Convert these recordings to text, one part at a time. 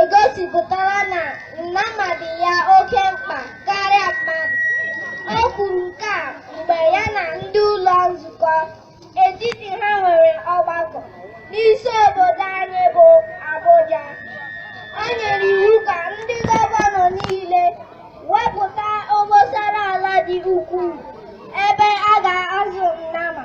egosipụtara na nnama dị ya oke mkpa karịa mmadụ. O kwuru nke a mgbe ya na ndị ụlọ nzukọ etiti ha nwere ọgbakọ n'isi obodo anyị bụ Abuja. O nyere iwu ka ndị gọvanọ niile wepụta obosara ala dị ukwuu ebe a ga-azụ nnama.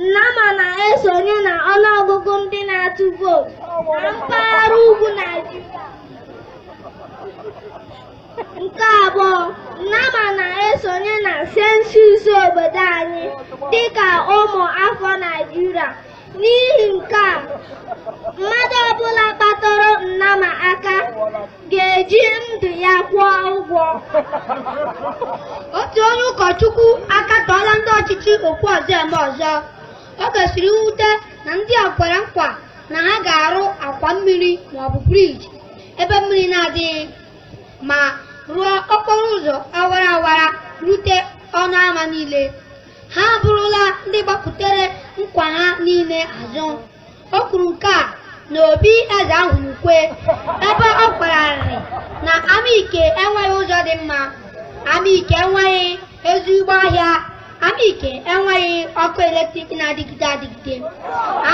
Nnama na-esonye na ọnụọgụgụ ndị na-atụ vootu na mpaghara ugwu Naịjirịa. Nke abụọ, Nnama na-esonye na sensus obodo anyị dịka ụmụ afọ Naịjirịa. N'ihi nke a, mmadụ ọbụla kpatụrụ Nnama aka ga-eji ndụ ya kwụọ ụgwọ otu onye ụkọchukwu akatọọla ndị ọchịchị okwu ọzọ eme ọzọ o gosiri mwute na ndị a kwere nkwa na ha ga-arụ akwa mmiri maọbụ briji ebe mmiri na-adịghị ma rụọ okporo ụzọ awara awara rute ọnụ ama niile ha abụrụla ndị gbakutere nkwa ha niile azụ O kwuru nke a n'obi Eze Ahurukwe ebe ọ kwara arịrị na Amaike enweghị ụzọ dị mma Amaike enweghị ezigbo ahịa Amaike enweghị ọkụ eletrik na-adịgide adịgide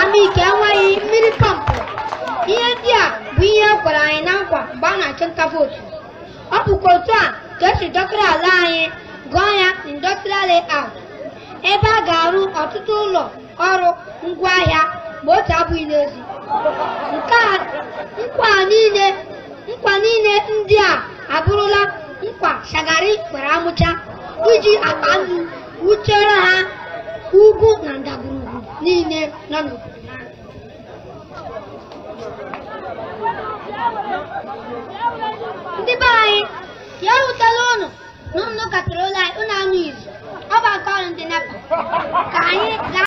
Amaike enweghị mmiri pọmpụ ihe ndị a bụ ihe e kwere anyị na nkwa mgbe a na-achụ nta vootu ọ bụkwa otu a ka e si dọkịrị ala anyị gụọ ya industrial layout ebe a ga-arụ ọtụtụ ụlọ ọrụ ngwa ahịa ma otu abụghị n'ezi nke a nkwa niile nkwa niile ndị a abụrụla nkwa shagari kwere amucha iji akpa nnu wuchere ha ugwu na ndagwurugwu niile nọ n'obodo ha ndị be anyị ya ewutela ụnụ na ụnụ katara ụlọ anyị ụnụ anụ izu ọ bụ aka ọrụ ndị nepa ka anyị gaa